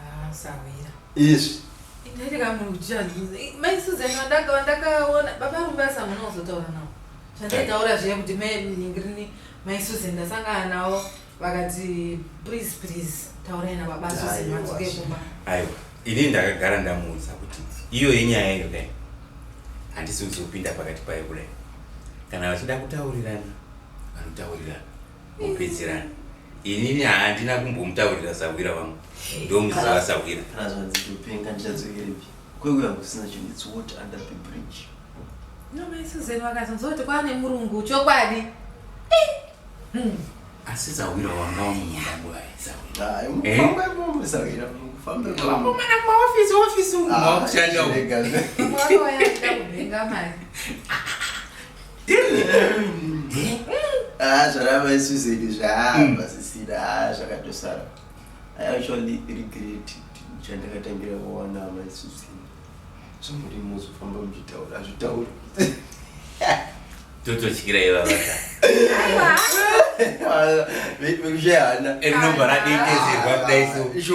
Ah, sahwira. Izvi. Ndaiti kamuri kuchani. Mai Susan wandaka wandakaona baba rumba samuna uzotaura nawo. Chandaitaura zviya kuti mai ningirini mai Susan ndasangana nawo vakati please please taurai na baba Susan madzoke kumba. Aiwa. Ini ndakagara ndamuudza kuti iyo yenyaya iyo dai. Handisi kuzopinda pakati payo kudai. Kana vachida kutaurirana vanotaurirana. kupedzerana inini handina kumbomutaurira sahwira vangu ndomuziva sahwira razvadzitopenga ndichadzokerepi kweuya kusina chinhu its water under the bridge nomaisozen vakazonzwa kuti kwava nemurungu chokwadi hmm. asi sahwira wanga wamumundanguaisahwiraofisi Ah, zvarava isu zvedu zvaamba mm. zvisina ah, zvakatosara i actually regret chandakatangira kuona hama isu zvedu zvamuri muzofamba muchitaura hazvitauri tototyira ivavaka vekushehana rinobva radetezerwa kudai so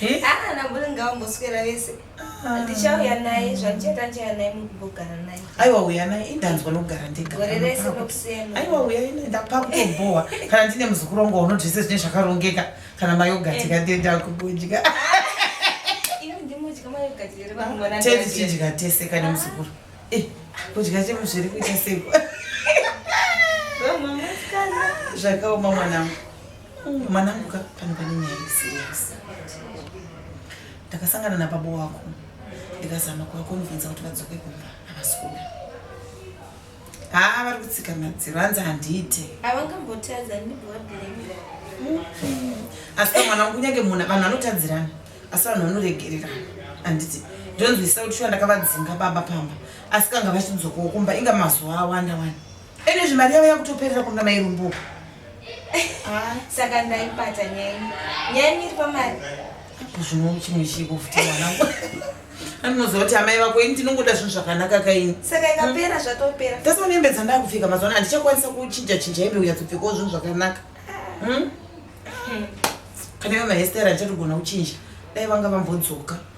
Eh? Ah, namburi ngavamboswera vese ah. ndichauya naye zvandichaita ndichauya naye mukugara naye aiwa uya naye indanzwa nokugara ndegagore rese nokusema aiwa uya ine ndapakutobhowa kana ndine muzukuru wangu waunoti zvese zvine zvakarongeka kana mayogati eh. kandenda kubudya tetichidya tese kane ah. muzukuru eh, kudya chemu zviri kuita seko zvakaoma mwanangu Umm mwanangu ka pano pane nyaya iri serious. Ndakasangana nababa wako ndikazama kuvakonvinza kuti vadzoke kumba havasi kuda. Haa vari kutsika madziro hanzi handiite. Havangambotadza ndibva wablame. Asi ka mwanangu kunyange munhu vanhu vanotadzirana asi vanhu vanoregererana handiti ndonzwisisa kuti shuwa ndakavadzinga baba pamba asi kanga vachidzokawo kumba inga mazuva awanda wani. Ene zvimari yavo yakutoperera kuna mai Rumbuka. Ah, saka ndaipata nyeni. Nyeni iri pamari. Apo zvino chimwe chiko futi mwanangu. Anonoziva kuti amai vako ini ndinongoda zvinhu zvakanaka kaini. Saka ikapera hmm. zvatopera. Tasa nembe dzandakupfeka mazuva ano handichakwanisa kuchinja chinja hembe unyatsopfekawo zvinhu zvakanaka. Ah. Hmm? Hmm. Kana iwe mahestera ndichatogona kuchinja. Dai vanga vambodzoka.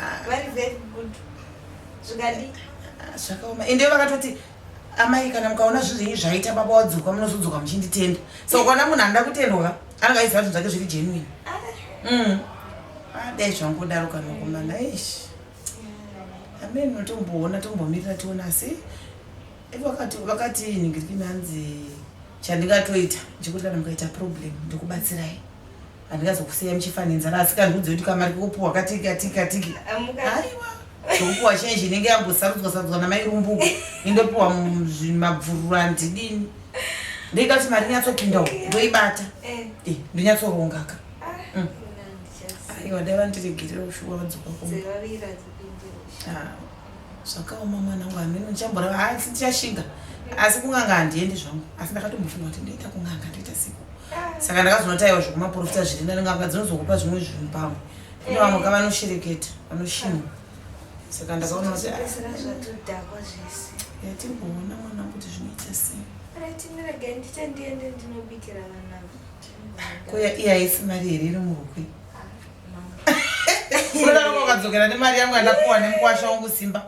Ah. vari very good zvikadi Ah, zvakaoma ende vakatoti amai kana mukaona zvinhu zvenyu zvaita baba wadzoka munozodzoka muchinditenda so ukaona munhu anoda kutendwa ka anenge aiziva zvinhu zvake zviri genuine Mm. Ah, dai zvangudaro kana kumana ish amene unotomboona tombomirira tiona asi ivo vakati vakati ningirikimi hanzi chandingatoita chekuti kana mukaita problem ndikubatsirai handingazokusiya muchifa nenzara asi kandiudze kuti kamari kokupuwa katiki katiki katiki aiwa zvokupuwa chenji inenge yambosarudzwa sarudzwa namai rumbuko indopiwa mabvururu andidini ndoita kuti mari nyatsopinda uku ndoibata eh. Eh, ndonyatsorongaka ah, mm. aiwa dai vandiregerera ushuwa vadzoka kuma ah. zvakaoma mwana wangu hameno ndichamborava asi ndichashinga asi kunganga handiendi zvangu asi ndakatombofunga kuti ndoita kunganga ndoita siku saka ndakazonotaiwa zvekumaporofita zviri nani nganga dzinozokupa zvimwe zvinhu pamwe kune vamwe ka vanoshereketa vanoshinwa saka ndakaona kuti yatimboona mwana kuti zvinoita sei ko iya haisi mari here iri murukwe ah. unodaroko ukadzokera nemari yangu yandapuwa nemukwasha wangu simba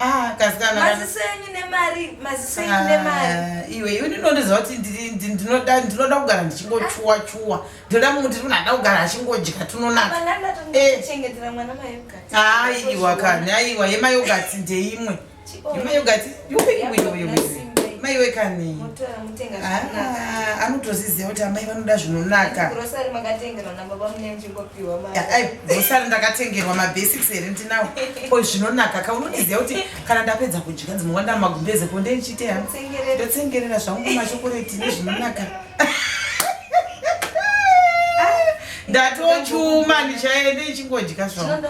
Ah, kasikana kana- maziso enyu nemari maziso enyu nemari Ah, iwe iwe ndinondiziva kuti ndiri- ndi- ndinoda ndinoda kugara ndichingochuwa chuwa ndinoda munhu kuti anoda kugara achingodya tunonaka mana Eh. ndatochengetera mwana mayogati aiwa kani aiwa yemayogati ndeimwe Mai ungati yupekuwina uyo mese mai wekani ah, anotozviziva kuti amai vanoda zvinonaka bhosari ndakatengerwa mabasics here ndinawo ko zvinonaka ka unondiziva kuti kana ndapedza kudya ndzinonga ndamagumbeze ko ndeichite ha ndotsengerera zvangu machokoreti nezvinonaka ndatochuma ndichaende ichingodya zvangu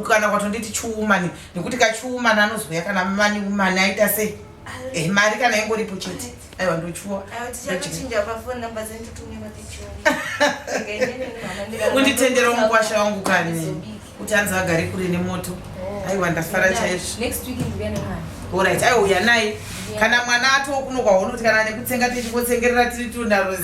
kana kwatonditi chiumani nekuti kachiumani anozouya kana mani umani aita sei eh, mari kana ingoripo chete aiwa ndochuwa unditendera mukwasha wangu kani kuti anzi agare kure nemoto aiwa ndafara chaizvo next week ndiuya nemwana orit aiwa uya naye kana mwana atoo kuno kwahono kuti kana nekutsenga tichingotsengerera tiri tu narozi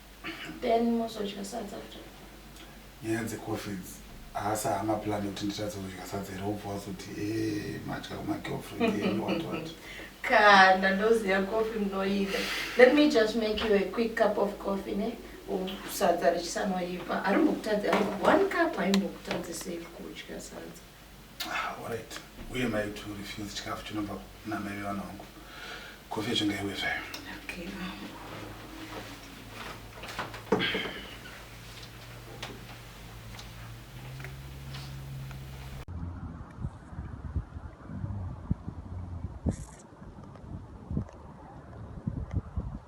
Then mozodya sadza after. Nyaya dzecoffee idzi haasi hama plan yekuti nditadze kudya sadza here wobva wazoti e madya kumagirlfriend enyu what what Kana ndoziva coffee munoida. Let me just make you a quick cup of coffee ne u- sadza richisanoipa. Arimbokutadza one cup haimbokutadzisei kudya sadza. Ah, alright. Uye mai kuti urefuse chikafu chinobva kuna mai vevana vangu. Kofi yacho ngaiwe zvayo. Okay, mama.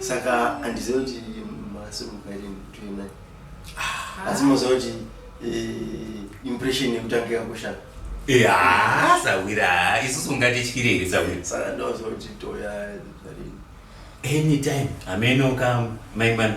saka handiziva kuti masurumukairini kutoina ah. asi moziva kuti eh, impression yekutanga yakoshaa haa sawira isusu ungatityire here sawira saka ndoziva kuti toya anytime hameno ka maimana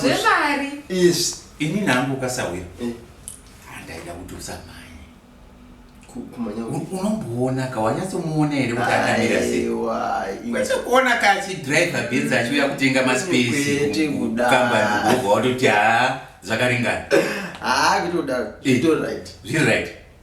zvemari ini nangu ukasauya eh. handaida kuti usamhanye unomboona ka wanyatsomuona here kuti akamira seikwete kuona ka achidrive benzi achiuya kutenga maspesi kambani kubva watoti haa zvakaringana haa kuti udaro eh. zviri right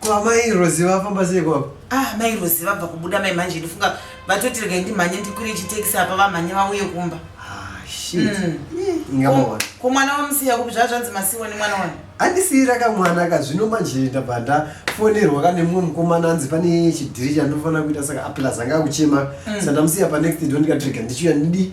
Ko amai Rozi vafamba sei kwako? Ah, mai Rozi vabva kubuda mai manje ndifunga vatoti regai ndimhanye ndikwire chitekisi apa vamhanye vauye kumba. Ah, shit. Mm. Ingamawana. Ko mwana wamusiya kupi zvazvanzi masiwa nemwana wani? Andisiyira ka mwana ka zvino manje ndabva ndafonerwa ka nemumwe mukomana anzi pane chidhiri chandinofanira kuita saka aplas anga akuchema mm. sandamusiya pa next door ndikatirega ndichiuya ndidi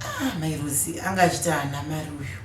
Ah, mai Rozi anga achiti haana mari uyu.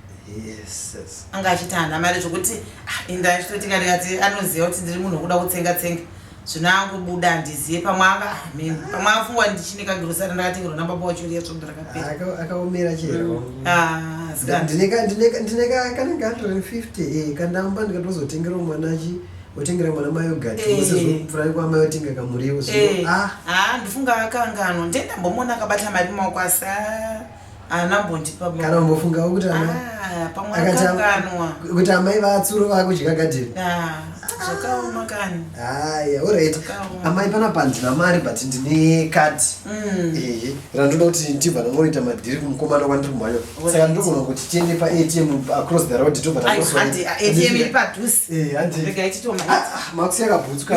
Yes, yes. Anga achiti haana mari zvekuti ah, inda achitoti kare ati anoziva kuti ndiri munhu wekuda kutsenga tsenga. Zvino angobuda handizive pamwe anga ah, mimi. Pamwe afungwa ndichine kagirosari ndakatengera na baba wacho riya svondo rakapera. Aka- akaomera chero Ah, asikana. ndine ka- ndine ka- ndine ka- kanenge 150 eh, kandamba ndikatozotengerawo mwana chi wotengera mwana mayogati Eh. wosezopfurai kwamai wotenga kamuriwo so Eh, ah ah, ndofunga akanganwa ndendambomuona akabata mari mumaoko asi ah, haana mbondipa mari. kana umbofungawo kuti amai Ah, pamwe akati am- akanganwa kuti amai vatsuro vakudya gadheni Ah, zvakaoma kani haya orit Zvakaoma. amai panapa handina mari but ndine kati Mm. ehe randoda kuti ndibva ndangoroita madhiri kumukomana kwandiri kumhanya saka ndogona kuti tiende paatm across the road tobva taosoatm iri padhuze makusi yakabutswa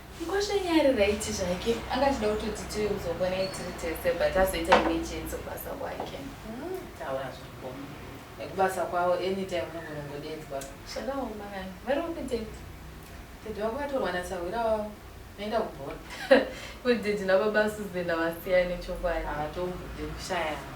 Mkwasha nyari right zvake anga achida kutoti tiwe kuzogona tiri tese but azoita emergency kubasa kwake. Mm, taura zvakoma. Nekubasa kwavo anytime unogona kungodedzwa. Zvakaoma vanhu vari kupideti. Tete wako atorwa nasahwira wavo. Noenda kubhora. Kudidi nababa Susan havasiyane chokwadi. Havatombobude kushayana.